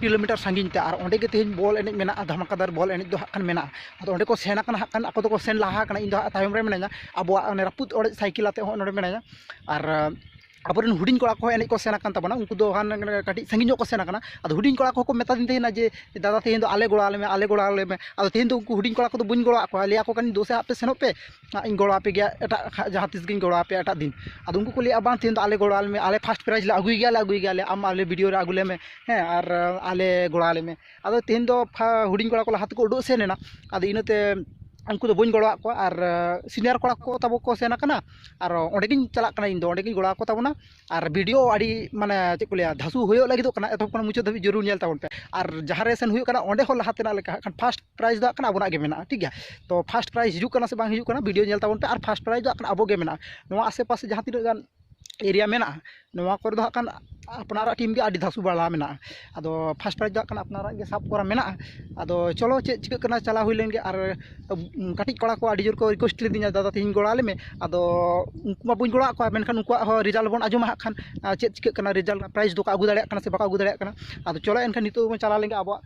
kilometre ᱥᱟᱺᱜᱤᱧ ᱛᱮ ᱟᱨ ᱚᱸᱰᱮ ᱜᱮ ᱛᱮᱦᱮᱧ ᱵᱚᱞ ᱮᱱᱮᱡ ᱢᱮᱱᱟᱜᱼᱟ ᱫᱷᱟᱢᱟᱠᱟᱫᱟᱨ ᱵᱚᱞ ᱮᱱᱮᱡ ᱫᱚ ᱦᱟᱸᱜ ᱠᱷᱟᱱ ᱢᱮᱱᱟᱜᱼᱟ ᱟᱫᱚ ᱚᱸᱰᱮ ᱠᱚ ᱥᱮᱱ ᱠᱟᱱᱟ ᱦᱟᱸᱜ ᱠᱷᱟᱱ ᱟᱠᱚ ᱫᱚᱠᱚ ᱥᱮᱱ ᱞᱟᱦᱟ ᱠᱟᱱᱟ ᱤᱧ ᱫᱚ ᱦᱟᱸᱜ ᱛᱟᱭᱚᱢ ᱨᱮ ᱢᱤᱱᱟᱹᱧᱟ ᱟᱵᱚᱣᱟᱜ ᱚᱱᱮ ᱨᱟᱹᱯᱩᱫ ᱚᱲᱮᱡ ᱥᱟᱭᱠᱮᱞ ᱟᱛᱮᱫ ᱦᱚᱸᱜᱼᱚᱭ ᱱᱚᱸᱰᱮ ᱢᱤᱱᱟᱹᱧᱟ ᱟᱨ ᱟᱵᱚ ᱨᱮᱱ ᱦᱩᱰᱤᱧ ᱠᱚᱲᱟ ᱠᱚᱦᱚᱸ ᱮᱱᱮᱡ ᱠᱚ ᱥᱮᱱ ᱠᱟᱱ ᱛᱟᱵᱚᱱᱟ ᱩᱱᱠᱩ ᱫᱚ ᱦᱟᱱᱮ ᱠᱟᱹᱴᱤᱡ ᱥᱟᱺᱜᱤᱧ ᱧᱚᱜ ᱠᱚ ᱥᱮᱱ ᱠᱟᱱᱟ ᱟᱫᱚ ᱦᱩᱰᱤᱧ ᱠᱚᱲᱟ ᱠᱚᱦᱚᱸ ᱠᱚ ᱢᱮᱛᱟ ᱫᱤᱧ ᱛᱟᱦᱮᱱᱟ ᱡᱮ ᱫᱟᱫᱟ ᱛᱮᱦᱮᱧ ᱫᱚ ᱟᱞᱮ ᱜᱚᱲᱚ ᱟᱞᱮ ᱢᱮ ᱟᱞᱮ ᱜᱚᱲᱚ ᱟᱞᱮ ᱢᱮ ᱟᱫᱚ ᱛᱮᱦᱮᱧ ᱫᱚ ᱩᱱᱠᱩ ᱦᱩᱰᱤᱧ ᱠᱚᱲᱟ ᱠᱚᱫᱚ ᱵᱟᱹᱧ ᱜᱚᱲᱚᱣᱟᱜ ᱠᱚᱣᱟ ᱞᱟᱹᱭᱟᱠᱚ ᱠᱟᱹᱱᱟᱹᱧ ᱫᱩᱥᱮ ᱟᱯᱮ ᱥᱮᱱᱚᱜ ᱯᱮ ᱦᱟᱸᱜ ᱤᱧ ᱜᱚᱲᱚ ᱟᱯᱮ ᱜᱮᱭᱟ ᱮᱴᱟᱜ ᱡᱟᱦᱟᱸ ᱛᱤᱥ ᱜᱮᱧ ᱜᱚᱲᱚ ᱟᱯᱮᱭᱟ ᱮᱴᱟᱜ ᱫᱤᱱ ᱟᱫᱚ ᱩᱱᱠᱩ ᱠᱚ ᱞᱟᱹᱭᱟ ᱵᱟᱝ ᱛᱮᱦᱮᱧ ᱫᱚ ᱟᱞᱮ ᱜᱚᱲᱚ ᱟᱞᱮ ᱢᱮ ᱟᱞᱮ ᱯᱷᱟᱥᱴ ᱯᱨᱟᱭᱤᱡᱽ ᱞᱮ ᱟᱹᱜᱩᱭ ᱜᱮᱭᱟᱞᱮ ᱟᱹᱜᱩᱭ ᱜᱮᱭᱟᱞᱮ ᱟᱢ ᱟᱞᱮ ᱵᱷᱤᱰᱤᱭᱳ ᱨᱮ ᱟᱹᱜᱩ ᱞᱮᱢᱮ ᱦᱮᱸ ᱟᱨ ᱟᱞᱮ ᱜᱚᱲᱚ ᱟᱞᱮ ᱢᱮ ᱟᱫᱚ ᱛᱮᱦᱮᱧ ᱫᱚ ᱦᱩᱰᱤᱧ ᱠᱚᱲᱟ ᱠᱚ ᱞᱟᱦᱟ ᱛᱮᱠᱚ ᱩᱰᱩᱠ ᱥᱮᱱ ᱮᱱᱟ ᱟᱫᱚ ᱤᱱᱟᱹᱛᱮ ᱩᱱᱠᱩ ᱫᱚ ᱵᱟᱹᱧ ᱜᱚᱲᱚ ᱟᱫ ᱠᱚᱣᱟ ᱟᱨ ᱥᱤᱱᱤᱭᱟᱨ ᱠᱚᱲᱟ ᱠᱚ ᱛᱟᱵᱚ ᱠᱚ ᱥᱮᱱ ᱟᱠᱟᱱᱟ ᱟᱨ ᱚᱸᱰᱮ ᱜᱮᱧ ᱪᱟᱞᱟᱜ ᱠᱟᱱᱟ ᱤᱧ ᱫᱚ ᱚᱸᱰᱮ ᱜᱮᱧ ᱜᱚᱲᱚ ᱟᱠᱚ ᱛᱟᱵᱚᱱᱟ ᱟᱨ ᱵᱷᱤᱰᱤᱭᱳ ᱟᱹᱰᱤ ᱢᱟᱱᱮ ᱪᱮᱫ ᱠᱚ ᱞᱟᱹᱭᱟ ᱫᱷᱟᱥᱩ ᱦᱩᱭᱩᱜ ᱞᱟᱹᱜᱤᱫᱚᱜ ᱠᱟᱱᱟ ᱮᱛᱚᱦᱚᱵ ᱠᱷᱚᱱ ᱢᱩᱪᱟᱹᱫ ᱫᱷᱟᱹᱵᱤᱡ ᱡᱟᱹᱨᱩᱲ ᱧᱮᱞ ᱛᱟᱵᱚᱱ ᱯᱮ ᱟᱨ ᱡᱟᱦᱟᱸ ᱨᱮ ᱥᱮᱱ ᱦᱩᱭᱩᱜ ᱠᱟᱱᱟ ᱚᱸᱰᱮ ᱦᱚᱸ ᱞᱟᱦᱟ ᱛᱮᱱᱟᱜ ᱞᱮᱠᱟ ᱦᱟᱸᱜ ᱠᱷᱟᱱ ᱯᱷᱟᱥᱴ ᱯᱨᱟᱭᱤᱡᱽ ᱫᱚ ᱦᱟᱸᱜ ᱠᱷᱟᱱ ᱟᱵᱚᱱᱟᱜ ᱜᱮ ᱢᱮᱱᱟᱜᱼᱟ ᱴᱷᱤᱠ ᱜᱮᱭᱟ ᱛᱚ ᱯᱷᱟᱥᱴ ᱯᱨᱟᱭᱤᱡᱽ ᱦᱤᱡᱩᱜ ᱠᱟᱱᱟ ᱥᱮ ᱵᱟᱝ ᱦᱤᱡᱩᱜ ᱠᱟᱱᱟ ᱵᱷᱤᱰᱤᱭᱳ ᱧᱮᱞ ᱛᱟᱵᱚᱱ ᱯᱮ ᱟᱨ ᱯᱷᱟᱥᱴ ᱯᱨᱟᱭᱤᱡᱽ ᱫᱚ ᱦᱟᱸᱜ ᱠᱷᱟᱱ ᱟᱵᱚ ᱜᱮ ᱢᱮᱱᱟᱜᱼᱟ ᱱᱚᱣᱟ ᱟᱥᱮ ᱯᱟᱥᱮ ᱡᱟᱦᱟᱸ ᱛᱤᱱᱟᱹᱜ ᱜᱟᱱ ᱮᱨᱤᱭᱟ ᱢᱮᱱᱟᱜᱼᱟ ᱱᱚᱣᱟ ᱠᱚᱨᱮ ᱫᱚ ᱦᱟᱸᱜ ᱠᱷᱟᱱ ᱟᱯᱱᱟᱨᱟᱜ ᱴᱤᱢ ᱜᱮ ᱟᱹᱰᱤ ᱫᱷᱟᱥᱩ ᱵᱟᱲᱟ ᱢᱮᱱᱟᱜᱼᱟ ᱟᱫᱚ ᱯᱷᱟᱥᱴ ᱯᱨᱟᱭᱤᱡᱽ ᱫᱚ ᱦᱟᱸᱜ ᱠᱷᱟᱱ ᱟᱯᱱᱟᱨᱟᱜ ᱜᱮ ᱥᱟᱵ ᱠᱚᱨᱟᱣ ᱢᱮᱱᱟᱜᱼᱟ ᱟᱫᱚ ᱪᱚᱞᱚ ᱪᱮᱫ ᱪᱤᱠᱟᱹᱜ ᱠᱟᱱᱟ ᱪᱟᱞᱟᱣ ᱦᱩᱭ ᱞᱮᱱᱜᱮ ᱟᱨ ᱠᱟᱹᱴᱤᱡ ᱠᱚᱲᱟ ᱠᱚ ᱟᱹᱰᱤ ᱡᱳᱨ ᱠᱚ ᱨᱤᱠᱩᱭᱮᱥᱴ ᱞᱤᱫᱤᱧᱟ ᱫᱟᱫᱟ ᱛᱮᱦᱮᱧ ᱜᱚᱲᱚ ᱟᱞᱮ ᱢᱮ ᱟᱫᱚ ᱩᱱᱠᱩ ᱢᱟ ᱵᱟᱹᱧ ᱜᱚᱲᱚ ᱟᱫ ᱠᱚᱣᱟ ᱢᱮᱱᱠᱷᱟᱱ ᱩᱱᱠᱩᱣᱟᱜ ᱦᱚᱸ ᱨᱮᱡᱟᱞᱴ ᱵᱚᱱ ᱟᱸᱡᱚᱢᱟ ᱦᱟᱸᱜ ᱠᱷᱟᱱ ᱪᱮᱫ ᱪᱤᱠᱟᱹᱜ ᱠᱟᱱᱟ ᱨᱮᱡᱟᱞᱴ ᱨᱮᱱᱟᱜ ᱯᱨᱟᱭᱤᱡᱽ ᱫᱚᱠᱚ ᱟᱹᱜᱩ ᱫᱟᱲᱮᱭᱟᱜ ᱠᱟᱱᱟ ᱥᱮ ᱵᱟᱠᱚ ᱟᱹᱜᱩ ᱫᱟᱲᱮᱭᱟᱜ ᱠᱟᱱᱟ ᱟᱫᱚ ᱪᱚᱞᱚ ᱮᱱᱠᱷᱟᱱ ᱱᱤᱛᱚᱜ ᱜᱮᱵᱚᱱ ᱪᱟᱞᱟᱣ ᱞᱮᱱᱜᱮ ᱟᱵᱚᱣᱟᱜ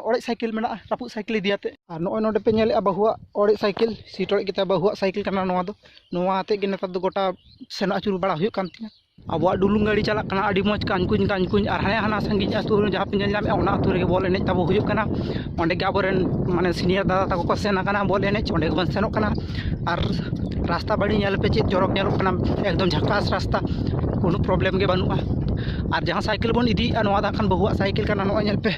ᱚᱲᱮᱡ ᱥᱟᱭᱠᱮᱞ ᱢᱮᱱᱟᱜᱼᱟ ᱨᱟᱹᱯᱩᱫ ᱥᱟᱭᱠᱮᱞ ᱤᱫᱤ ᱠᱟᱛᱮᱫ ᱟᱨ ᱱᱚᱜᱼᱚᱭ ᱱᱚᱰᱮ ᱯᱮ ᱧᱮᱞᱮᱫᱼᱟ ᱵᱟᱹᱦᱩᱣᱟᱜ ᱚᱲᱮᱡ ᱥᱟᱭᱠᱮᱞ ᱥᱤᱴ ᱚᱲᱮᱡ ᱜᱮᱛᱟᱭᱟ ᱵᱟᱹᱦᱩᱣᱟᱜ ᱥᱟᱭᱠᱮᱞ ᱠᱟᱱᱟ ᱱᱚᱣᱟ ᱫᱚ ᱱᱚᱣᱟ ᱟᱛᱮᱫ ᱜᱮ ᱱᱮᱛᱟᱨ ᱫᱚ ᱜᱳᱴᱟ ᱥᱮᱱᱚᱜ ᱟᱹᱪᱩᱨ ᱵᱟᱲᱟ ᱦᱩᱭᱩᱜ ᱠᱟᱱ ᱛᱤᱧᱟᱹ ᱟᱵᱚᱣᱟᱜ ᱰᱩᱞᱩᱝ ᱜᱟᱹᱰᱤ ᱪᱟᱞᱟᱜ ᱠᱟᱱᱟ ᱟᱹᱰᱤ ᱢᱚᱡᱽ ᱠᱟᱱ ᱠᱩᱧ ᱠᱟᱱ ᱠᱩᱧ ᱟᱨ ᱦᱟᱱᱮ ᱦᱟᱱᱟ ᱥᱟᱺᱜᱤᱧ ᱟᱹᱛᱩ ᱨᱮ ᱡᱟᱦᱟᱸ ᱯᱮ ᱧᱮᱞ ᱧᱟᱢᱮᱜᱼᱟ ᱚᱱᱟ ᱟᱹᱛᱩ ᱨᱮᱜᱮ ᱵᱚᱞ ᱮᱱᱮᱡ ᱛᱟᱵᱚ ᱦᱩᱭᱩᱜ ᱠᱟᱱᱟ ᱚᱸᱰᱮ ᱜᱮ ᱟᱵᱚ ᱨᱮᱱ ᱢᱟᱱᱮ ᱥᱤᱱᱤᱭᱟᱨ ᱫᱟᱫᱟ ᱛᱟᱠᱚ ᱠᱚ ᱥᱮᱱ ᱠᱟᱱᱟ ᱵᱚᱞ ᱮᱱᱮᱡ ᱚᱸᱰᱮ ᱜᱮᱵᱚᱱ ᱥᱮᱱᱚᱜ ᱠᱟᱱᱟ ᱟᱨ ᱨᱟᱥᱛᱟ ᱵᱟᱹᱲᱤ ᱧᱮᱞ ᱯᱮ ᱪᱮᱫ ᱪᱚᱨᱚᱠ ᱧᱮᱞᱚᱜ ᱠᱟᱱᱟ ᱮᱠᱫᱚᱢ ᱡᱷᱟᱠᱟᱥ ᱨᱟᱥᱛᱟ ᱠᱳᱱᱳ ᱯᱨᱚᱵᱞᱮᱢ ᱜᱮ ᱵᱟᱹᱱᱩᱜᱼᱟ ᱟᱨ ᱡᱟᱦᱟᱸ ᱥᱟᱭᱠᱮᱞ ᱵᱚᱱ ᱤᱫᱤᱭᱮᱜᱼᱟ ᱱᱚᱣᱟ ᱫᱚ ᱦᱟᱸᱜ ᱠᱷᱟᱱ ᱵᱟᱹᱦᱩᱣᱟᱜ ᱥᱟᱭᱠᱮᱞ ᱠᱟᱱᱟ ᱱᱚᱜᱼᱚᱭ ᱧᱮᱞ ᱯᱮ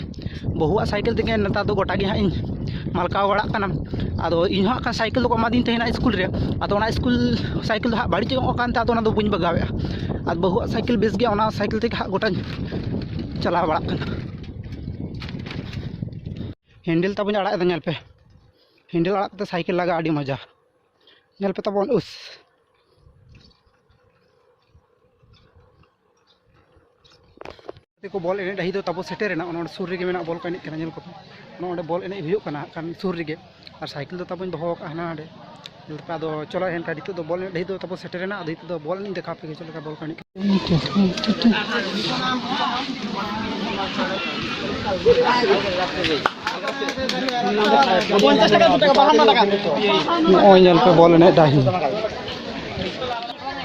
ᱵᱟᱹᱦᱩᱣᱟᱜ ᱥᱟᱭᱠᱮᱞ ᱛᱮᱜᱮ ᱱᱮᱛᱟᱨ ᱫᱚ ᱜᱳᱴᱟ ᱜᱮᱦᱟᱸᱜ ᱤᱧ ᱢᱟᱞᱠᱟᱣ ᱵᱟᱲᱟᱜ ᱠᱟᱱᱟ ᱟᱫᱚ ᱤᱧᱦᱚᱸ ᱦᱟᱸᱜ ᱠᱷᱟᱱ ᱥᱟᱭᱠᱮᱞ ᱫᱚᱠᱚ ᱮᱢᱟᱫᱤᱧ ᱛᱟᱦᱮᱱᱟ ᱥᱠᱩᱞ ᱨᱮ ᱟᱫᱚ ᱚᱱᱟ ᱥᱠᱩᱞ ᱥᱟᱭᱠᱮᱞ ᱫᱚ ᱦᱟᱸᱜ ᱵᱟᱹᱲᱤᱡ ᱧᱚᱜ ᱟᱠᱟᱱᱛᱮ ᱟᱫᱚ ᱚᱱᱟᱫᱚ ᱵᱟᱹᱧ ᱵᱟᱜᱟᱣᱮᱫᱼᱟ ᱟᱨ ᱵᱟᱹᱦᱩᱣᱟᱜ ᱥᱟᱭᱠᱮᱞ ᱵᱮᱥ ᱜᱮᱭᱟ ᱚᱱᱟ ᱥᱟᱭᱠᱮᱞ ᱛᱮᱜᱮ ᱦᱟᱸᱜ ᱜᱳᱴᱟᱧ ᱪᱟᱞᱟᱣ ᱵᱟᱲᱟᱜ ᱠᱟᱱᱟ ᱦᱮᱱᱰᱮᱞ ᱛᱟᱵᱚᱱ ᱟᱲᱟᱜ ᱮᱫᱟ ᱧᱮᱞ ᱯᱮ ᱦᱮᱱᱰᱮᱞ ᱟᱲᱟᱜ ᱠᱟᱛᱮ ᱥᱟᱭᱠᱮᱞ ᱞᱟᱜᱟ ᱟᱹᱰᱤ ᱢᱚᱡᱟ ᱧᱮᱞ ᱯᱮ ᱛᱟᱵᱚᱱ ᱩᱥ ᱠᱚ ᱵᱚᱞ ᱮᱱᱮᱡ ᱰᱟᱹᱦᱤ ᱫᱚ ᱛᱟᱵᱚ ᱥᱮᱴᱮᱨᱮᱱᱟ ᱚᱱᱟ ᱥᱩᱨ ᱨᱮᱜᱮ ᱢᱮᱱᱟᱜ ᱵᱚᱞ ᱠᱚ ᱮᱱᱮᱡ ᱠᱟᱱᱟ ᱧᱮᱞ ᱠᱚᱯᱮ ᱚᱱᱟ ᱚᱸᱰᱮ ᱵᱚᱞ ᱮᱱᱮᱡ ᱦᱩᱭᱩᱜ ᱠᱟᱱᱟ ᱠᱟᱱ ᱥᱩᱨ ᱨᱮᱜᱮ ᱟᱨ ᱥᱟᱭᱠᱮᱞ ᱫᱚ ᱛᱟᱵᱚᱧ ᱫᱚᱦᱚ ᱟᱠᱟᱫ ᱦᱟᱱᱟ ᱦᱟᱸᱰᱮ ᱞᱮᱠᱟ ᱫᱚ ᱪᱚᱞᱚ ᱮᱱᱠᱷᱟᱱ ᱱᱤᱛᱚᱜ ᱫᱚ ᱵᱚᱞ ᱮᱱᱮᱡ ᱰᱟᱹᱦᱤ ᱫᱚ ᱛᱟᱵᱚ ᱥᱮᱴᱮᱨᱮᱱᱟ ᱟᱫᱚ ᱱᱤᱛᱚᱜ ᱫᱚ ᱵᱚᱞ ᱮᱱᱮᱡ ᱫᱮᱠᱷᱟᱣ ᱯᱮ ᱪᱮᱫ ᱞᱮᱠᱟ ᱵᱚᱞ ᱠᱚ ᱮᱱᱮᱡ ᱱᱚᱜᱼᱚᱭ ᱧᱮᱞ ᱯᱮ ᱵᱚᱞ ᱮᱱᱮᱡ ᱰᱟᱹᱦᱤ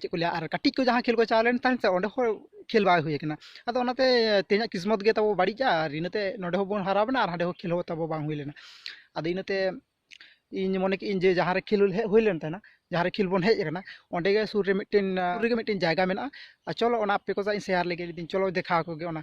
ᱪᱮᱫ ᱠᱚ ᱞᱟᱹᱭᱟ ᱟᱨ ᱠᱟᱹᱴᱤᱡ ᱠᱚ ᱡᱟᱦᱟᱸ ᱠᱷᱮᱞ ᱠᱚ ᱪᱟᱞᱟᱣ ᱞᱮᱱ ᱛᱟᱦᱮᱸᱫ ᱥᱮ ᱚᱸᱰᱮ ᱦᱚᱸ ᱠᱷᱮᱞ ᱵᱟᱝ ᱦᱩᱭ ᱠᱟᱱᱟ ᱟᱫᱚ ᱚᱱᱟᱛᱮ ᱛᱮᱦᱮᱧᱟᱜ ᱠᱤᱥᱢᱚᱛ ᱜᱮ ᱛᱟᱵᱚ ᱵᱟᱹᱲᱤᱡᱼᱟ ᱟᱨ ᱤᱱᱟᱹᱛᱮ ᱱᱚᱸᱰᱮ ᱦᱚᱸᱵᱚᱱ ᱦᱟᱨᱟᱣᱮᱱᱟ ᱟᱨ ᱦᱟᱸᱰᱮ ᱦᱚᱸ ᱠᱷᱮᱞ ᱦᱚᱸ ᱛᱟᱵᱚ ᱵᱟᱝ ᱦᱩᱭ ᱞᱮᱱᱟ ᱟᱫᱚ ᱤᱱᱟᱹᱛᱮ ᱤᱧ ᱢᱚᱱᱮ ᱠᱮᱫᱟᱹᱧ ᱡᱮ ᱡᱟᱦᱟᱸ ᱨᱮ ᱠᱷᱮᱞ ᱦᱮᱡ ᱦᱩᱭ ᱞᱮᱱ ᱛᱟᱦᱮᱱᱟ ᱡᱟᱦᱟᱸ ᱨᱮ ᱠᱷᱮᱞ ᱵᱚᱱ ᱦᱮᱡ ᱟᱠᱟᱱᱟ ᱚᱸᱰᱮ ᱜᱮ ᱥᱩᱨ ᱨᱮ ᱢᱤᱫᱴᱮᱱ ᱥᱩᱨ ᱨᱮᱜᱮ ᱢᱤᱫᱴᱮᱱ ᱡᱟᱭᱜᱟ ᱢᱮᱱᱟᱜᱼᱟ ᱟᱨ ᱪᱚᱞᱚ ᱚᱱᱟ ᱟᱯᱮ ᱠᱚ ᱥᱟᱞᱟᱜ ᱤᱧ ᱥᱮᱭᱟᱨ ᱞᱮᱜᱮ ᱞᱟᱹᱭᱫᱟᱹᱧ ᱪᱚᱞᱚ ᱫᱮᱠᱷᱟᱣ ᱟᱠᱚ ᱜᱮ ᱚᱱᱟ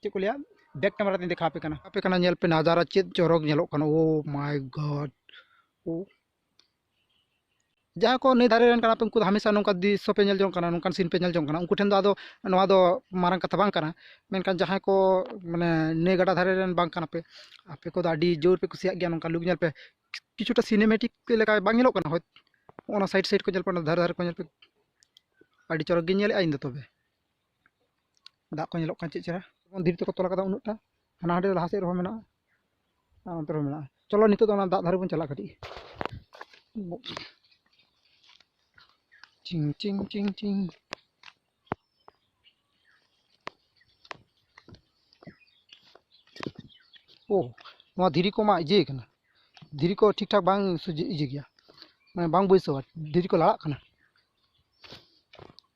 ᱪᱮᱫ ᱠᱚ ᱞᱟᱹᱭᱟ ᱵᱮᱠ ᱠᱮᱢᱮᱨᱟ ᱛᱤᱧ ᱫᱮᱠᱷᱟᱣ ᱟᱯᱮ ᱠᱟᱱᱟ ᱟᱯᱮ ᱠᱟᱱᱟ ᱧᱮᱞ ᱯᱮ ᱱᱟᱡᱟᱨᱟ ᱪᱮᱫ ᱪᱚᱨᱚᱠ ᱧᱮᱞᱚᱜ ᱠᱟᱱᱟ ᱳ ᱢᱟᱭ ᱜᱚᱰ ᱳ ᱡᱟᱦᱟᱸᱭ ᱠᱚ ᱱᱟᱹᱭ ᱫᱷᱟᱨᱮ ᱨᱮᱱ ᱠᱟᱱᱟ ᱯᱮ ᱩᱱᱠᱩ ᱫᱚ ᱦᱟᱢᱮᱥᱟ ᱱᱚᱝᱠᱟ ᱫᱨᱤᱥᱥᱚ ᱯᱮ ᱧᱮᱞ ᱡᱚᱝ ᱠᱟᱱᱟ ᱱᱚᱝᱠᱟᱱ ᱥᱤᱱ ᱯᱮ ᱧᱮᱞ ᱡᱚᱝ ᱠᱟᱱᱟ ᱩᱱᱠᱩ ᱴᱷᱮᱱ ᱫᱚ ᱟᱫᱚ ᱱᱚᱣᱟ ᱫᱚ ᱢᱟᱨᱟᱝ ᱠᱟᱛᱷᱟ ᱵᱟᱝ ᱠᱟᱱᱟ ᱢᱮᱱᱠᱷᱟᱱ ᱡᱟᱦᱟᱸᱭ ᱠᱚ ᱢᱟᱱᱮ ᱱᱟᱹᱭ ᱜᱟᱰᱟ ᱫᱷᱟᱨᱮ ᱨᱮᱱ ᱵᱟᱝ ᱠᱟᱱᱟ ᱯᱮ ᱟᱯᱮ ᱠᱚᱫᱚ ᱟᱹᱰᱤ ᱡᱳᱨ ᱯᱮ ᱠᱩᱥᱤᱭᱟᱜ ᱜᱮᱭᱟ ᱱᱚᱝᱠᱟ ᱞᱩᱠ ᱧᱮᱞ ᱯᱮ ᱠᱤᱪᱷᱩᱴᱟ ᱥᱤᱱᱮᱢᱮᱴᱤᱠ ᱞᱮᱠᱟ ᱵᱟᱝ ᱧᱮᱞᱚᱜ ᱠᱟᱱᱟ ᱦᱳᱭ ᱚᱱᱟ ᱥᱟᱭᱤᱰ ᱥᱟᱭᱤᱰ ᱠᱚ ᱧᱮᱞ ᱯᱮ ᱚᱱᱟ ᱫᱷᱟᱨᱮ ᱫᱷᱟᱨᱮ ᱠᱚ ᱧᱮᱞ ᱯᱮ ᱟᱹᱰᱤ ᱪᱚᱨᱚᱠ ᱜᱤᱧ ᱧᱮᱞᱮᱫᱼᱟ ᱤᱧ ᱫᱚ ᱛᱚᱵᱮ ᱫᱟᱜ ᱠᱚ ᱧᱮᱞᱚᱜ ᱠᱟᱱᱟ ᱪᱮᱫ ᱪᱮᱦᱨᱟ ᱡᱮᱢᱚᱱ ᱫᱷᱤᱨᱤ ᱛᱮᱠᱚ ᱛᱚᱞ ᱠᱟᱫᱟ ᱩᱱᱟᱹᱜᱴᱟ ᱦᱟᱱᱟ ᱦᱟᱸᱰᱮ ᱞᱟᱦᱟ ᱥᱮᱫ ᱨᱮᱦᱚᱸ ᱢᱮᱱᱟᱜᱼᱟ ᱟᱨ ᱚᱱᱛᱮ ᱨᱮᱦᱚᱸ ᱢᱮᱱᱟᱜᱼᱟ ᱪᱚᱞᱚ ᱱᱤᱛᱚᱜ ᱫᱚ ᱚᱱᱟ ᱫᱟᱜ ᱫᱷᱟᱨᱮ ᱵᱚᱱ ᱪᱟᱞᱟᱜᱼᱟ ᱠᱟᱹᱴᱤᱡ ᱪᱤᱝ ᱪᱤᱝ ᱪᱤᱝ ᱪᱤᱝ ᱳ ᱱᱚᱣᱟ ᱫᱷᱤᱨᱤ ᱠᱚ ᱢᱟ ᱤᱭᱟᱹ ᱠᱟᱱᱟ ᱫᱷᱤᱨᱤ ᱠᱚ ᱴᱷᱤᱠ ᱴᱷᱟᱠ ᱵᱟᱝ ᱥᱚᱡᱷᱮ ᱤᱭᱟᱹ ᱜᱮᱭᱟ ᱢᱟᱱᱮ ᱵᱟᱝ ᱵᱟᱹᱭᱥᱟᱹᱣᱟ ᱫᱷᱤᱨᱤ ᱠᱚ ᱞᱟᱲᱟᱜ ᱠᱟᱱᱟ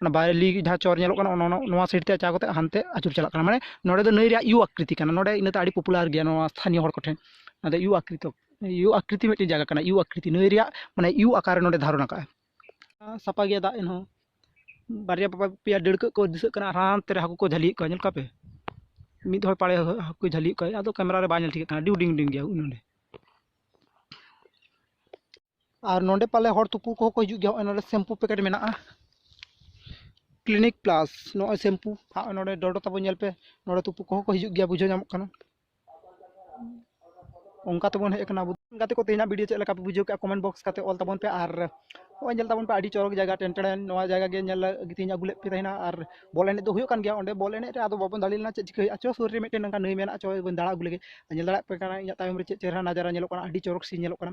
ᱚᱱᱟ ᱵᱟᱭᱨᱮᱞᱤ ᱡᱟᱦᱟᱸ ᱪᱚᱨ ᱧᱮᱞᱚᱜ ᱠᱟᱱᱟ ᱚᱱᱟ ᱱᱚᱣᱟ ᱥᱟᱭᱤᱰ ᱛᱮ ᱪᱟᱞᱟᱣ ᱠᱟᱛᱮᱫ ᱦᱟᱱᱛᱮ ᱟᱹᱪᱩᱨ ᱪᱟᱞᱟᱜ ᱠᱟᱱᱟ ᱢᱟᱱᱮ ᱱᱚᱸᱰᱮ ᱫᱚ ᱱᱟᱹᱭ ᱨᱮᱭᱟᱜ ᱤᱭᱩ ᱟᱠᱠᱨᱤᱛᱤ ᱠᱟᱱᱟ ᱱᱚᱸᱰᱮ ᱤᱱᱟᱹᱛᱮ ᱟᱹᱰᱤ ᱯᱚᱯᱩᱞᱟᱨ ᱜᱮᱭᱟ ᱱᱚᱣᱟ ᱥᱛᱷᱟᱱᱤᱭᱚ ᱦᱚᱲ ᱠᱚᱴᱷᱮᱱ ᱚᱱᱟᱛᱮ ᱤᱭᱩ ᱟᱠᱠᱨᱤᱛᱤ ᱤᱭᱩ ᱟᱠᱠᱨᱤᱛᱤ ᱢᱤᱫᱴᱮᱱ ᱡᱟᱭᱜᱟ ᱠᱟᱱᱟ ᱤᱭᱩ ᱟᱠᱠᱨᱤᱛᱤ ᱱᱟᱹᱭ ᱨᱮᱭᱟᱜ ᱢᱟᱱᱮ ᱤᱭᱩ ᱟᱠᱟᱨ ᱱᱚᱸᱰᱮ ᱫᱷᱟᱨᱚᱱ ᱟᱠᱟᱫᱼᱟ ᱥᱟᱯᱷᱟ ᱜᱮᱭᱟ ᱫᱟᱜ ᱮᱱᱦᱚᱸ ᱵᱟᱨᱭᱟ ᱯᱮᱭᱟ ᱰᱟᱹᱲᱠᱟᱹ ᱠᱚ ᱫᱤᱥᱟᱹᱜ ᱠᱟᱱᱟ ᱟᱨ ᱦᱟᱱᱛᱮ ᱨᱮ ᱦᱟᱹᱠᱩ ᱠᱚ ᱡᱷᱟᱹᱞᱤᱭᱮᱫ ᱠᱚᱣᱟ ᱧᱮᱞ ᱠᱚᱣᱟ ᱯᱮ ᱢᱤᱫ ᱦᱚᱲ ᱯᱟᱲᱮ ᱦᱟᱹᱠᱩ ᱡᱷᱟᱹᱞᱤᱭᱮᱫ ᱠᱚᱣᱟᱭ ᱟᱫᱚ ᱠᱮᱢᱮᱨᱟ ᱨᱮ ᱵᱟᱭ ᱧᱮᱞ ᱴᱷᱤᱠᱟᱹᱜ ᱠᱟᱱᱟ ᱟᱹᱰᱤ ᱦᱩᱰᱤᱧ ᱦᱩᱰᱤᱧ ᱜᱮᱭᱟ ᱱᱚᱸᱰᱮ ᱟᱨ ᱱᱚᱰᱮ ᱯᱟᱞᱮ ᱦᱚᱲ ᱛᱩᱯᱩ ᱠᱚᱦᱚᱸ ᱠᱚ ᱦᱤᱡᱩᱜ ᱜᱮᱭᱟ ᱱᱚᱜᱼᱚᱭ ᱱᱚᱰᱮ ᱥᱮᱢᱯᱩ ᱯᱮᱠᱮᱴ ᱢᱮᱱᱟᱜᱼᱟ ᱠᱞᱤᱱᱤᱠ ᱯᱞᱟᱥ ᱱᱚᱜᱼᱚᱭ ᱥᱮᱢᱯᱩ ᱟᱨ ᱱᱚᱰᱮ ᱰᱚᱰᱚ ᱛᱟᱵᱚ ᱧᱮᱞ ᱯᱮ ᱱᱚᱰᱮ ᱛᱩᱯᱩ ᱠᱚᱦᱚᱸ ᱠᱚ ᱦᱤᱡᱩᱜ ᱜᱮᱭᱟ ᱵᱩᱡᱷᱟᱹᱣ ᱧᱟᱢᱚᱜ ᱠᱟᱱᱟ ᱚᱱᱠᱟ ᱛᱮᱵᱚᱱ ᱦᱮᱡ ᱟᱠᱟᱱᱟ ᱟᱵᱚ ᱜᱟᱛᱮ ᱠᱚ ᱛᱮᱦᱮᱧᱟᱜ ᱵᱷᱤᱰᱤᱭᱳ ᱪᱮᱫ ᱞᱮᱠᱟ ᱯᱮ ᱵᱩᱡᱷᱟᱹᱣ ᱠᱮᱜᱼᱟ ᱠᱚᱢᱮᱱᱴ ᱵᱚᱠᱥ ᱠᱟᱛᱮ ᱚᱞ ᱛᱟᱵᱚᱱ ᱯᱮ ᱟᱨ ᱱᱚᱜᱼᱚᱭ ᱧᱮᱞ ᱛᱟᱵᱚᱱ ᱯᱮ ᱟᱹᱰᱤ ᱪᱚᱨᱚᱠ ᱡᱟᱭᱜᱟ ᱴᱮᱱᱴᱮᱲᱮᱱ ᱱᱚᱣᱟ ᱡᱟᱭᱜᱟ ᱜᱮ ᱧᱮᱞ ᱞᱟᱹᱜᱤᱫ ᱛᱮᱧ ᱟᱹᱜᱩ ᱞᱮᱫ ᱯᱮ ᱛᱟᱦᱮᱱᱟ ᱟᱨ ᱵᱚᱞ ᱮᱱᱮᱡ ᱫᱚ ᱦᱩᱭᱩᱜ ᱠᱟᱱ ᱜᱮᱭᱟ ᱚᱸᱰᱮ ᱵᱚᱞ ᱮᱱᱮᱡ ᱨᱮ ᱟᱫᱚ ᱵᱟᱵᱚᱱ ᱫᱟᱲᱮ ᱞᱮᱱᱟ ᱪᱮᱫ ᱪᱤᱠᱟᱹ ᱦᱩᱭᱩᱜᱼᱟ ᱪᱚ ᱥᱩᱨ ᱨᱮ ᱢᱤᱫᱴᱮᱱ ᱱᱚᱝᱠᱟ ᱱᱟᱹᱭ ᱢᱮᱱᱟᱜᱼᱟ ᱪᱚ ᱵᱚᱱ ᱫᱟᱬᱟ ᱟᱹᱜᱩ ᱞᱮᱜᱮ ᱧᱮᱞ ᱫᱟᱲᱮᱭᱟᱜ ᱯᱮ ᱠᱟᱱᱟ ᱤᱧᱟᱹᱜ ᱛᱟᱭᱚᱢ ᱨᱮ ᱪᱮᱫ ᱪᱮᱦᱨᱟ ᱱᱟᱡᱟᱨᱟ ᱧᱮᱞᱚᱜ ᱠᱟᱱᱟ ᱟᱹᱰᱤ ᱪᱚᱨᱚᱠ ᱥᱤᱱ ᱧᱮᱞᱚᱜ ᱠᱟᱱᱟ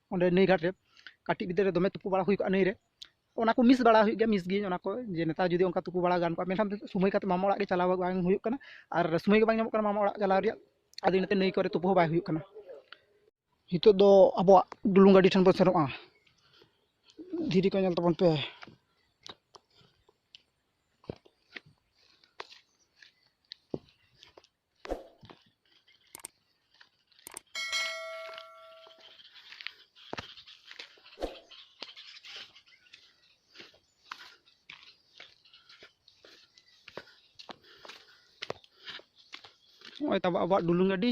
ᱚᱸᱰᱮ ᱱᱟᱹᱭ ᱜᱷᱟᱴ ᱨᱮ ᱠᱟᱹᱴᱤᱡ ᱵᱤᱫᱟᱹᱞ ᱨᱮ ᱫᱚᱢᱮ ᱛᱩᱯᱩ ᱵᱟᱲᱟ ᱦᱩᱭ ᱠᱚᱜᱼᱟ ᱱᱟᱹᱭ ᱨᱮ ᱚᱱᱟ ᱠᱚ ᱢᱤᱥ ᱵᱟᱲᱟ ᱦᱩᱭᱩᱜ ᱜᱮᱭᱟ ᱢᱤᱥ ᱜᱤᱭᱟᱹᱧ ᱚᱱᱟ ᱠᱚ ᱡᱮ ᱱᱮᱛᱟᱨ ᱡᱩᱫᱤ ᱚᱱᱠᱟ ᱛᱩᱯᱩ ᱵᱟᱲᱟ ᱜᱟᱱ ᱠᱚᱜᱼᱟ ᱢᱮᱱᱠᱷᱟᱱ ᱥᱚᱢᱚᱭ ᱠᱟᱛᱮᱫ ᱢᱟᱢᱟ ᱚᱲᱟᱜ ᱜᱮ ᱪᱟᱞᱟᱣ ᱵᱟᱝ ᱦᱩᱭᱩᱜ ᱠᱟᱱᱟ ᱟᱨ ᱥᱚᱢᱚᱭ ᱜᱮ ᱵᱟᱝ ᱧᱟᱢᱚᱜ ᱠᱟᱱᱟ ᱢᱟᱢᱟ ᱚᱲᱟᱜ ᱪᱟᱞᱟᱣ ᱨᱮᱭᱟᱜ ᱟᱫᱚ ᱤᱱᱟᱹᱛᱮ ᱱᱟᱹᱭ ᱠᱚᱨᱮ ᱛᱩᱯᱩ ᱦᱚᱸ ᱵᱟᱭ ᱦᱩᱭᱩᱜ ᱠᱟᱱᱟ ᱱᱤᱛᱚᱜ ᱫᱚ ᱟᱵᱚᱣᱟᱜ ᱰᱩᱞᱩᱝ ᱜᱟᱹᱰᱤ ᱴᱷᱮᱱ ᱵᱚᱱ ᱥᱮᱱᱚᱜᱼᱟ ᱫᱷᱤᱨᱤ ᱠᱚ ᱧᱮᱞ ᱛᱟᱵᱚᱱ ᱯᱮ ᱱᱚᱜᱼᱚᱭ ᱛᱟᱵᱚ ᱟᱵᱚᱣᱟᱜ ᱰᱩᱞᱩᱝ ᱜᱟᱹᱰᱤ